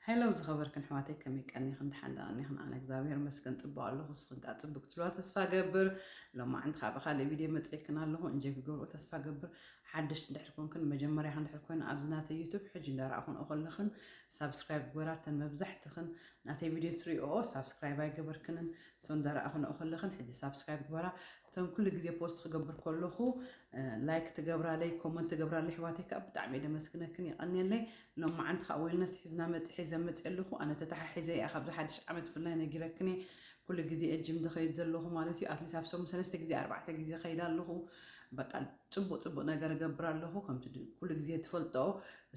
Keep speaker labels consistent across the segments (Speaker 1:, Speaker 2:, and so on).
Speaker 1: Hello ዝኸበርክን ኣሕዋተይ ከመይ ቀኒኽን ድሓን ዶ ቀኒኽን ኣነ እግዚኣብሔር ይመስገን ጽቡቅ ኣለኹ ንስኽን ከኣ ጽቡቅ ክትብልዋ ተስፋ እገብር ሎማዕንቲ ከኣ ብካልእ ቪድዮ መጺኤክን ኣለኹ እንጆይ ክገብርኦ ተስፋ እገብር ሓደሽቲ እንድሕር ኮንክን መጀመርያኽን እንድሕር ኮይኑ ኣብዚ ናተይ ዩቱብ ሕጂ እንዳረኣኹንኦ ከለኽን ሳብስክራይብ ግበራ እተን መብዛሕትኽን ናተይ ቪድዮ ትሪኦኦ ሳብስክራይብ ኣይገበርክንን ሶ እንዳረኣኽንኦ ከለኽን ሕጂ ሳብስክራይብ ግበራ እተን ኩሉ ግዜ ፖስት ክገብር ከለኹ ላይክ ትገብራለይ ኮመንት ትገብራለይ ኣሕዋተይ ከዓ ብጣዕሚ እየ ደመስግነክን የቀንየለይ ሎማዓንቲ ከዓ ዌልነስ ሒዝና መፅ ሒዘ መፅየ ኣለኹ ኣነ ተተሓሒዘ እየ ካብዚ ሓድሽ ዓመት ፍላይ ነጊረክን እየ ኩሉ ግዜ እየ ጅም ዝኸይድ ዘለኹ ማለት እዩ ኣትሊስ ኣብ ሰሙን ሰለስተ ግዜ ኣርባዕተ ግዜ ከይድ ኣለኹ በቃ ፅቡቅ ፅቡቅ ነገር እገብር ኣለኹ ከምቲ ኩሉ ግዜ ትፈልጦ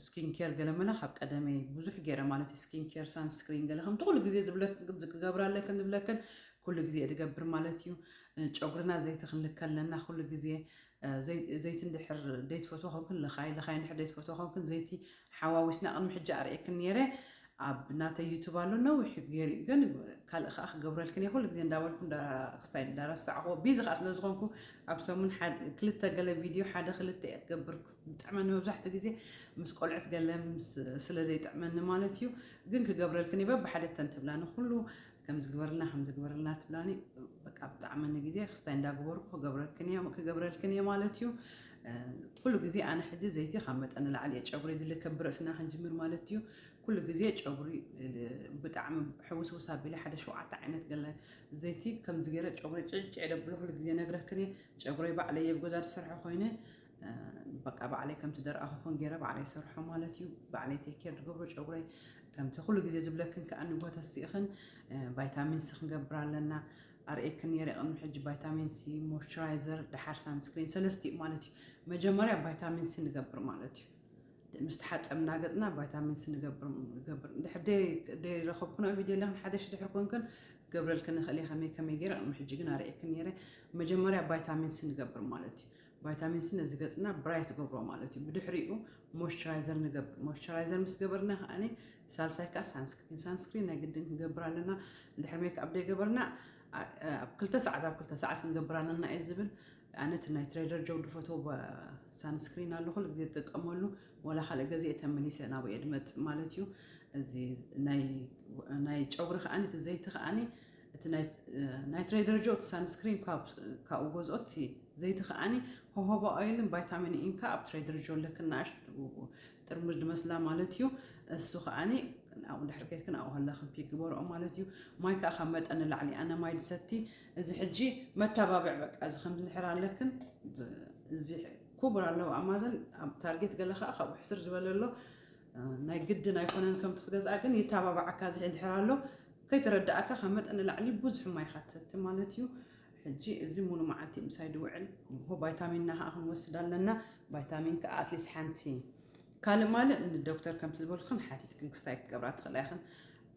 Speaker 1: ስኪን ኬር ገለመለ ካብ ቀደመይ ብዙሕ ገይረ ማለት እዩ ስኪን ኬር ሳንስክሪን ገለ ከምቲ ኩሉ ግዜ ዝብለክን ዝገብራለክን ዝብለክን ኩሉ ግዜ ድገብር ማለት እዩ ጨጉርና ዘይቲ ክንልከ ኣለና ኩሉ ግዜ ዘይቲ እንድሕር ደይትፈትዎ ኮንክን ልኻይ ልኻይ እንድሕር ደይትፈትዎ ኮንክን ዘይቲ ሓዋዊስና ቅድሚ ሕጂ ኣርእየክን ነይረ ኣብ ናተይ ዩቱብ ኣሎ ነዊሕ ገይሩ ግን ካልእ ከዓ ክገብረልክን እየ ኩሉ ግዜ እንዳበልኩ ክስታይ እንዳረሳዕኹዎ ቢዚ ከዓ ስለ ዝኾንኩ ኣብ ሰሙን ክልተ ገለ ቪድዮ ሓደ ክልተ እየ ክገብር ጥዕመኒ መብዛሕትኡ ግዜ ምስ ቆልዑት ገለ ስለ ዘይጥዕመኒ ማለት እዩ ግን ክገብረልክን እየ በብሓደ ተንትብላ ንኩሉ ከምዚ ግበርልና ከምዚ ግበርልና ትብላኒ በቃ ብጣዕሚ ንግዜ ክስታይ እንዳግበርኩ ክገብረልክን እየ ክገብረልክን እየ ማለት እዩ ኩሉ ግዜ ኣነ ሕጂ ዘይቲ ካብ መጠን ንላዕሊ እየ ጨጉሪ ዝልከ ብርእስና ክንጅምር ማለት እዩ ኩሉ ግዜ ጨጉሪ ብጣዕሚ ሕውስውስ ኣቢለ ሓደ ሸውዓተ ዓይነት ገለ ዘይቲ ከምዚ ገይረ ጨጉሪ ጭዕጭዕ ደብሎ ኩሉ ግዜ ነግረክን እየ ጨጉረይ ባዕለይ እየ ብገዛ ዝሰርሖ ኮይነ በቃ ባዕለይ ከምቲ ደርኣኹኽን ገይረ ባዕለይ ሰርሖ ማለት እዩ ባዕለይ ቴኬር ዝገብሮ ጨጉረይ ከምቲ ኩሉ ግዜ ዝብለክን ከዓ ንቦታ ስኢኽን ቫይታሚን ሲ ክንገብር ኣለና ኣርእየክን ነይረ ቅድሚ ሕጂ ቫይታሚን ሲ ሞይስቸራይዘር ድሓር ሳንስክሪን ሰለስተ እዩ ማለት እዩ መጀመርያ ቫይታሚን ሲ ንገብር ማለት እዩ ምስ ተሓፀብና ገፅና ቫይታሚን ሲ ንገብር ድሕር ደይረኸብኩና ቪድዮ ኣለኽን ሓደሽ ድሕር ኮንክን ገብረልክን ንኽእል እየ ከመይ ከመይ ገይረ ቅድሚ ሕጂ ግን ኣርእየክን ነይረ መጀመርያ ቫይታሚን ሲ ንገብር ማለት እዩ ቫይታሚን ሲ ነዚ ገጽና ብራይት ይገብሮ ማለት እዩ። ብድሕሪኡ ሞይስቸራይዘር ንገብር። ሞይስቸራይዘር ምስ ገበርና ከኣኒ ሳልሳይ ከኣ ሳንስክሪን። ሳንስክሪን ናይ ግድን ክንገብር ኣለና። ድሕሪ ሜክኣፕ ዘይገበርና ኣብ ክልተ ሰዓት ኣብ ክልተ ሰዓት ክንገብር ኣለና እዩ ዝብል። ኣነ እቲ ናይ ትሬደር ጆው ድፈትዎ ሳንስክሪን ኣሎ ኩሉ ግዜ ዝጥቀመሉ ወላ ካልእ ገዜ ተመሊሰ ናብኡ እየ ድመጽእ ማለት እዩ። እዚ ናይ ጨጉሪ ከኣኒ እቲ ዘይቲ ከኣኒ እቲ ናይትረይ ደረጃኡ እቲ ሳንስክሪን ካብኡ ገዝኦ እቲ ዘይቲ ከዓኒ ሆሆባ ኦይልን ቫይታሚን ኢን ከዓ ኣብ ትረይ ደረጃ ኣለክን ንኣሽቱ ጥርሙዝ ድመስላ ማለት እዩ እሱ ከዓኒ ኣብኡ ድሕሪ ከይትክን ኣብኡ ኣለክን ፒክ ግበርኦ ማለት እዩ ማይ ከዓ ካብ መጠን ንላዕሊ ኣነ ማይ ድሰቲ እዚ ሕጂ መተባብዕ በቃ እዚ ከምዚ ንሕር ኣለክን እዚ ኩቡር ኣለዎ ኣማዘን ኣብ ታርጌት ገለ ከዓ ካብኡ ሕስር ዝበለ ኣሎ ናይ ግድን ኣይኮነን ከምቲ ክገዝኣ ግን ይተባባዓካ ዝሒ ድሕር ኣሎ ከይተረዳእካ ካብ መጠን ንላዕሊ ብዙሕ ማይ ኢኻ ትሰቲ ማለት እዩ ሕጂ እዚ ሙሉ መዓልቲ ምሳይ ድውዕል ንሆ ቫይታሚንና ከዓ ክንወስድ ኣለና ቫይታሚን ከዓ ኣትሊስ ሓንቲ ካልእ ማልእ ንዶክተር ከምቲ ዝበልክን ሓቲትክን ክስታይ ክገብራ ትኽእላ ኢኽን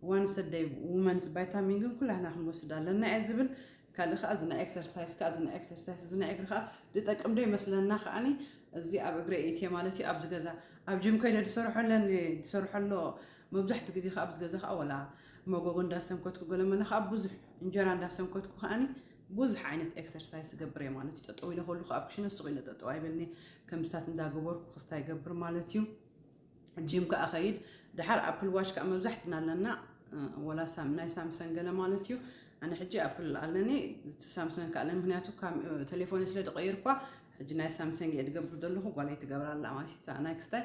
Speaker 1: ዋንሰደይ ውመንስ ቫይታሚን ግን ኩላህና ክንወስድ ኣለና እየ ዝብል ካልእ ከኣ እዚ ናይ ኤክሰርሳይስ ከኣ እዚ ናይ ኤክሰርሳይስ እዚ ናይ እግሪ ከኣ ዝጠቅም ዶ ይመስለና ከኣኒ እዚ ኣብ እግሪ እእትየ ማለት እዩ ኣብዚ ገዛ ኣብ ጅም ኮይነ ዝሰርሖ ኣለኒ ዝሰርሖ ኣሎ መብዛሕትኡ ግዜ ከኣ ኣብዚ ገዛ ከኣ ወላ መጎጎ እንዳሰንከትኩ ገለመለ ከኣ ብዙሕ እንጀራ እንዳሰንከትኩ ከኣኒ ብዙሕ ዓይነት ኤክሰርሳይስ ይገብር እየ ማለት እዩ ጠጠው ኢለ ከሉ ከኣ ኣብ ክሽነ ስቕ ኢለ ጠጠው ኣይበልኒ ከምስታት እንዳገበርኩ ክስታ ይገብር ማለት እዩ ጂም ከኣ ከይድ ድሓር ኣፕል ዋች ከኣ መብዛሕትና ኣለና ወላ ናይ ሳምሰን ገለ ማለት እዩ ኣነ ሕጂ ኣፕል ኣለኒ እቲ ሳምሰን ከኣ ኣለኒ ምክንያቱ ቴሌፎን ስለ ዝቐይርኳ ሕጂ ናይ ሳምሰንግ እየ ዝገብር ዘለኹ ጓለይ ትገብራ ኣላ ማለት እዩ እታ ናይ ክስታይ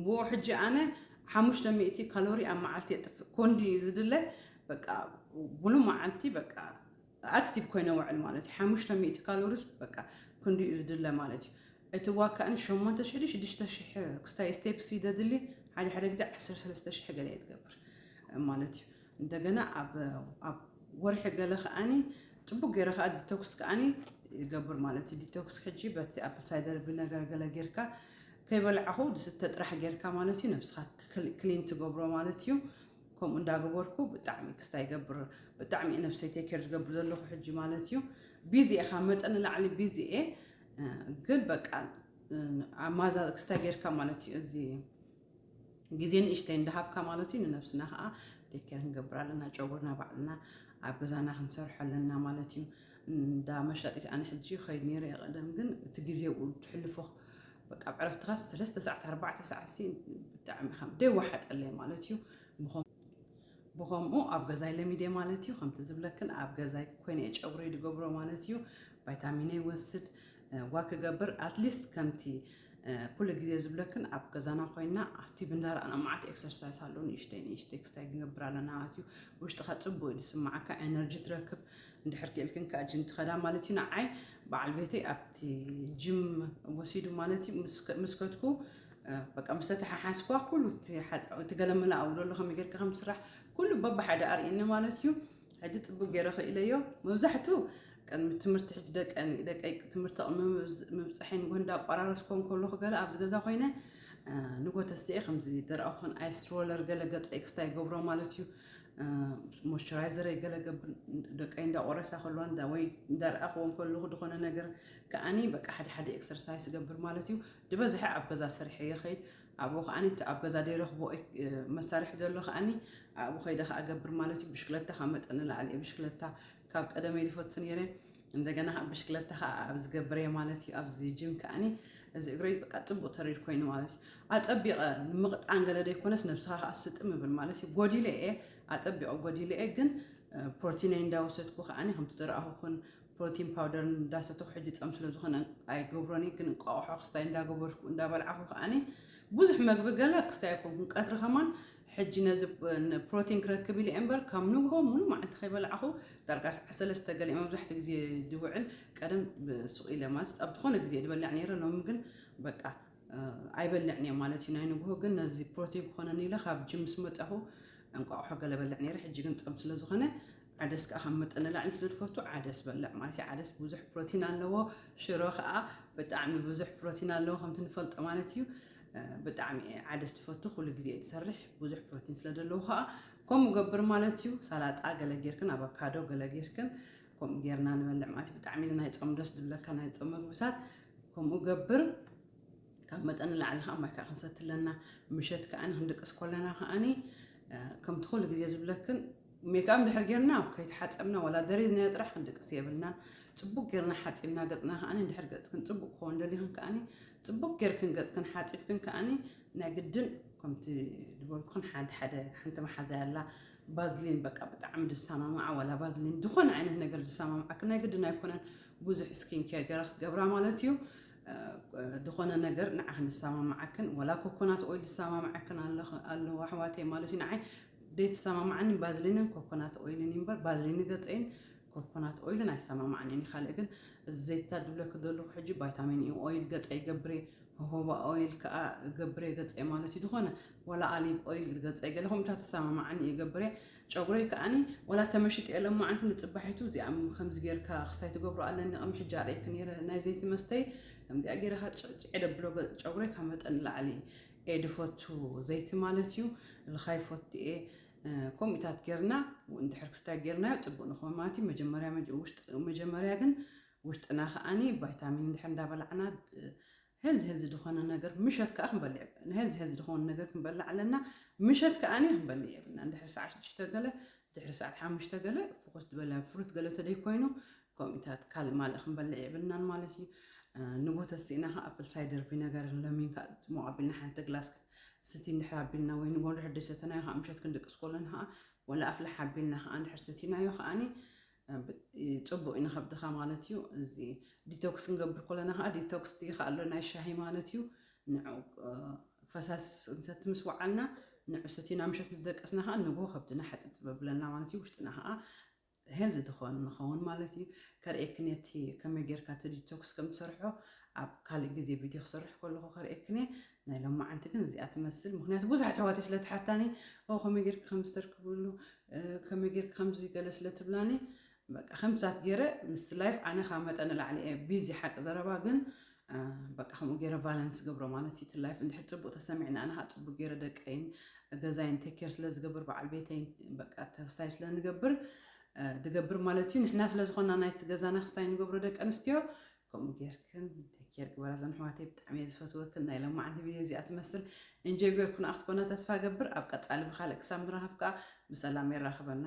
Speaker 1: ብኡ ሕጂ ኣነ ሓሙሽተ ሚእቲ ካሎሪ ኣብ መዓልቲ የጥፍእ ኮንዲ ዝድለ በቃ ሙሉ መዓልቲ በቃ ኣክቲቭ ኮይነ ውዕል ማለት እዩ። ሓሙሽተ ሚእቲ ካሎሪስ በቃ ክንዲ እዩ ዝድለ ማለት እዩ። እቲ ዋካእን ሸሞንተ ሽሕ ሽዱሽተ ሽሕ ክስታይ ስቴፕስ እዩ ዘድሊ ሓደ ሓደ ግዜ ዓሰርተ ሰለስተ ሽሕ ገለ የትገብር ማለት እዩ። እንደገና ኣብ ወርሒ ገለ ከዓኒ ፅቡቅ ገይረ ከዓ ዲቶክስ ከዓኒ ይገብር ማለት እዩ ዲቶክስ ሕጂ በቲ ኣፕል ሳይደር ቪነገር ገለ ጌርካ ከይበልዓኹ ዝስተ ጥራሕ ጌርካ ማለት እዩ ነብስኻ ክሊን ትገብሮ ማለት እዩ ከምኡ እንዳገበርኩ ብጣዕሚ ክስታይ ይገብር ብጣዕሚ እየ ነብሰይ ቴኬር ዝገብር ዘለኹ ሕጂ ማለት እዩ ቢዚ እየ ካብ መጠን ንላዕሊ ቢዚ እየ ግን በቃ ማዛ ክስታይ ጌርካ ማለት እዩ እዚ ግዜ ንእሽተይ እንዳሃብካ ማለት እዩ ንነብስና ከዓ ቴኬር ክንገብር ኣለና ጨጉርና ባዕልና ኣብ ገዛና ክንሰርሖ ኣለና ማለት እዩ እንዳ መሻጢት ኣነ ሕጂ ከይድ ነይረ ቀደም ግን እቲ ግዜ ትሕልፎ በቃ ኣብ ዕረፍትኻስ ሰለስተ ሰዓት ኣርባዕተ ሰዓትሲ ብጣዕሚ ከም ደይ ወሓጠለይ ማለት እዩ ብኸምኡ ኣብ ገዛይ ለሚደ ማለት እዩ ከምቲ ዝብለክን ኣብ ገዛይ ኮይነ እየ ጨጉረይ ዝገብሮ ማለት እዩ ቫይታሚነ ይወስድ ዋ ክገብር ኣትሊስት ከምቲ ኩሉ ግዜ ዝብለክን ኣብ ገዛና ኮይና ኣብቲ ብንዳራኣና መዓት ኤክሰርሳይስ ኣሎ ንእሽተይ ንእሽተይ ክስታይ ክንገብር ኣለና ማለት እዩ ውሽጥካ ፅቡቅ እዩ ዝስማዓካ ኤነርጂ ትረክብ እንድሕር ክኢልክን ክኣ ጂም ትኸዳ ማለት እዩ ንዓይ በዓል ቤተይ ኣብቲ ጂም ወሲዱ ማለት እዩ ምስ ከድኩ በቃ ምስ ተተሓሓዝኳ ኩሉ እቲ ገለመላ ኣብኡ ዘሎ ከመይ ጌርካ ከም ዝስራሕ ኩሉ በብሓደ ኣርእየኒ ማለት እዩ ሕጂ ፅቡቅ ገይረ ክኢለዮ መብዛሕትኡ ቅድሚ ትምህርቲ ሕጂ ደቀይ ትምህርቲ ቅሚ ምብፅሐይ ንጎ እንዳቋራረስኮ ከለኹ ገለ ኣብዚ ገዛ ኮይነ ንጎ ተስትኤ ከምዚ ደረቕ ኹን ኣይስትሮለር ገለ ገፀ ኤክስታ ይገብሮ ማለት እዩ ሞይስቸራይዘረይ ገለ ገብር ደቀይ እንዳቆረሳ ከለዋ እንዳ ወይ እንዳርኣኽዎ ከለኹ ዝኾነ ነገር ከዓኒ በቃ ሓደ ሓደ ኤክሰርሳይስ ገብር ማለት እዩ ዝበዝሐ ኣብ ገዛ ሰሪሐ የኸይድ ኣብኡ ከዓኒ እቲ ኣብ ገዛ ደይረኽቦ መሳርሒ ዘሎ ከዓኒ ኣብኡ ከይደ ከዓ ገብር ማለት እዩ ብሽክለታ ካብ መጠን ንላዕሊ እየ ብሽክለታ ካብ ቀደመይ ድፈቱ ነይረ እንደገና ከኣ ብሽክለታ ከኣ ኣብ ዝገብር እየ ማለት እዩ ኣብዚ ጂም ከኣኒ እዚ እግረይ በቃ ጽቡቅ ተሪር ኮይኑ ማለት እዩ ኣጸቢቀ ንምቅጣን ገለ ደይኮነስ ነብስኻ ከኣ ስጥም ይብል ማለት እዩ ጎዲለ እየ ኣጸቢቀ ጎዲለ እየ ግን ፕሮቲነይ እንዳወሰድኩ ከኣኒ ከምቲ ዝረኣኹኹን ፕሮቲን ፓውደር እንዳሰተኹ ሕጂ ጸም ስለ ዝኾነ ኣይገብሮን ግን እንቋቑሖ ክስታይ እንዳገበርኩ እንዳበልዓኹ ከዓኒ ብዙሕ መግቢ ገለ ክስታይ ኣይኮንኩን ቀትሪ ከማን ሕጂ ነዚ ፕሮቲን ክረክብ ኢለ እየ እምበር ካብ ንግሆ ሙሉእ መዓልቲ ከይበላዕኹ ዳርጋ ሰዓት ሰለስተ ገለ እየ መብዛሕትኡ ግዜ ዝውዕል ቀደም ሱቕ ኢለ ማለት ኣብ ዝኾነ ግዜ ዝበልዕ ነይረ ሎሚ ግን በቃ ኣይበልዕን እየ ማለት እዩ ናይ ንግሆ ግን ነዚ ፕሮቲን ክኾነኒ ኢለ ካብ ጅም ምስ መጻኹ እንቋቑሖ ገለ በልዕ ነይረ ሕጂ ግን ጾም ስለ ዝኾነ ዓደስ ከዓ ካብ መጠን ንላዕሊ ስለ ዝፈቱ ዓደስ በልዕ ማለት እዩ ዓደስ ብዙሕ ፕሮቲን ኣለዎ ሽሮ ከዓ ብጣዕሚ ብዙሕ ፕሮቲን ኣለዎ ከምቲ ንፈልጦ ማለት እዩ ብጣዕሚ እየ ዓደስ ትፈቱ ኩሉ ግዜ ትሰርሕ ብዙሕ ፕሮቲን ስለ ዘለዎ ከዓ ከምኡ ገብር ማለት እዩ ሰላጣ ገለ ጌርክን ኣቫካዶ ገለ ጌርክን ከምኡ ጌርና ንበልዕ ማለት እዩ ብጣዕሚ እዚ ናይ ፆም ደስ ዝብለካ ናይ ፆም ምግብታት ከምኡ ገብር ካብ መጠን ንላዕሊ ከዓ ማይ ከዓ ክንሰቲ ኣለና ምሸት ከዓኒ ክንድቅስ ኮለና ከዓኒ ከምቲ ኩሉ ግዜ ዝብለክን ሜክኣብ ድሕር ጌርና ከይተሓፀብና ዋላ ደሪዝናዮ ጥራሕ ክንድቅስ የብልናን ፅቡቅ ጌርና ሓፂብና ገፅና ከዓኒ ድሕር ገፅክን ፅቡቅ ክኸውን ደሊኽን ከዓኒ ጽቡቅ ጌርክን ገጽክን ሓጺብክን ከኣኒ ናይ ግድን ከምቲ ድበልኩክን ሓንቲ ሓደ ሓንቲ መሓዛይ ኣላ ባዝሊን በቃ ብጣዕሚ ድሰማማዓ ዋላ ባዝሊን ዝኾነ ዓይነት ነገር ድሰማማዓክን ናይ ግድን ኣይኮነን ብዙሕ ስኪን ኬር ገራ ክትገብራ ማለት እዩ ዝኾነ ነገር ንዓኽን ዝሰማምዓክን ወላ ኮኮናት ኦይል ዝሰማምዓክን ኣለዎ ኣሕዋተይ ማለት እዩ ንዓይ ዘይተሰማምዓኒ ባዝሊንን ኮኮናት ኦይልን እዩ እምበር ባዝሊን ገፀይን ኮኮናት ኦይልን ኣይሰማማዕንን እዩ ካልእ ግን እዚ ዘይትታት ዝብለኪ ዘለኹ ሕጂ ቫይታሚን ኢ ኦይል ገፀ ይገብር እየ ሆሆባ ኦይል ከዓ ገብር እየ ገፀ ማለት እዩ ዝኾነ ዋላ ኣሊቭ ኦይል ገፀ ገለ ከምታት ዝሰማማዕኒ እየ ገብር እየ ጨጉረይ ከዓኒ ዋላ ተመሽጥ እየ ለማዓንቲ ንፅባሒቱ እዚኣ ከምዚ ጌርካ ክስታይ ትገብሮ ኣለኒ ቅሚ ሕጂ ኣርእየኪ ነይረ ናይ ዘይቲ መስተይ ከምዚኣ ጌረ ካ ጭዕጭዕ ደብሎ ጨጉረይ ካብ መጠን ላዕሊ እየ ድፈቱ ዘይቲ ማለት እዩ ልኻይ ፈቱ እየ ኮምኢታት ጌርና እንድሕር ክስታይ ጌርናዮ ጽቡቅ ንኮን ማለት እዩ መጀመርያ መጀመርያ ግን ውሽጥና ከኣኒ ቫይታሚን እንድሕር እንዳበላዕና ሄልዚ ሄልዚ ዝኾነ ነገር ምሸት ከኣ ክንበልዕ ንሄልዚ ሄልዚ ዝኾነ ነገር ክንበልዕ ኣለና ምሸት ከኣኒ ክንበልዕ የብልና እንድሕር ሰዓት ሽዱሽተ ገለ ድሕሪ ሰዓት ሓሙሽተ ገለ ፍኹስ ዝበለ ፍሩት ገለ ተደይ ኮይኑ ኮሚታት ካልእ ማልእ ክንበልዕ የብልናን ማለት እዩ ንቡህ ተስኢና ከ ኣፕል ሳይደር ቪነገርን ለሚን ከ ጽሙቕ ኣቢልና ሓንቲ ግላስ ሰቲ እንድሕር ኣቢልና ወይ ንጎ እንድሕር ደሰተናዮ ከ ምሸት ክንድቅስ ኮሎን ከ ወላ ኣፍላሕ ኣቢልና ከ እንድሕር ሰቲናዮ ከኣኒ ጽቡቅ እዩ ንከብድኻ ማለት እዩ እዚ ዲቶክስ ክንገብር ኮለና ከ ዲቶክስ እቲ ከ ኣሎ ናይ ሻሂ ማለት እዩ ንዑ ፈሳሲ እንሰቲ ምስ ወዓልና ንዑ ሰቲና ምሸት ምስ ደቀስና ከ ንጎ ከብድና ሓጽጽ በብለና ማለት እዩ ውሽጥና ከ ሄን ዝትኾን ንኸውን ማለት እዩ ከርእየክን እየ እቲ ከመይ ጌርካ እቲ ዲቶክስ ከም ትሰርሖ ኣብ ካልእ ግዜ ቪድዮ ክሰርሕ ከለኹ ከርእየክን እየ ናይ ሎማዓንቲ ግን እዚኣ ትመስል ምክንያቱ ብዙሕ ኣሕዋተይ ስለ ትሓታኒ ኦ ከመይ ጌርክ ከም ዝተርክብሉ ከመይ ጌርክ ከምዚ ገለ ስለ ትብላኒ በቃ ከምሳት ጌረ ምስ ላይፍ ኣነ ካብ መጠን ንላዕሊ እየ ቢዚ ሓቂ ዘረባ ግን በቃ ከምኡ ገይረ ቫለንስ ገብሮ ማለት እዩ ትላይፍ እንድሕር ፅቡቅ ተሰሚዕና ኣነ ከዓ ፅቡቅ ገይረ ደቀይን ገዛይን ቴኬር ስለ ዝገብር በዓል ቤተይን በቃ ተክስታይ ስለ ንገብር እ፣ ዝገብር ማለት እዩ ንሕና ስለ ዝኾና ናይቲ ገዛና ክስታይ ንገብሮ ደቂ ኣንስትዮ ከምኡ ጌርክን ቴኬር ግበራ ዘን ኣሕዋተይ ብጣዕሚ እየ ዝፈትወክን ናይ ለማዓንቲ ቪድዮ እዚኣ ትመስል እንጆይ ጌርኩና ክትኮና ተስፋ ገብር ኣብ ቀፃሊ ብካልእ ክሳብ ንራኸብ ከዓ ብሰላም የራኽበና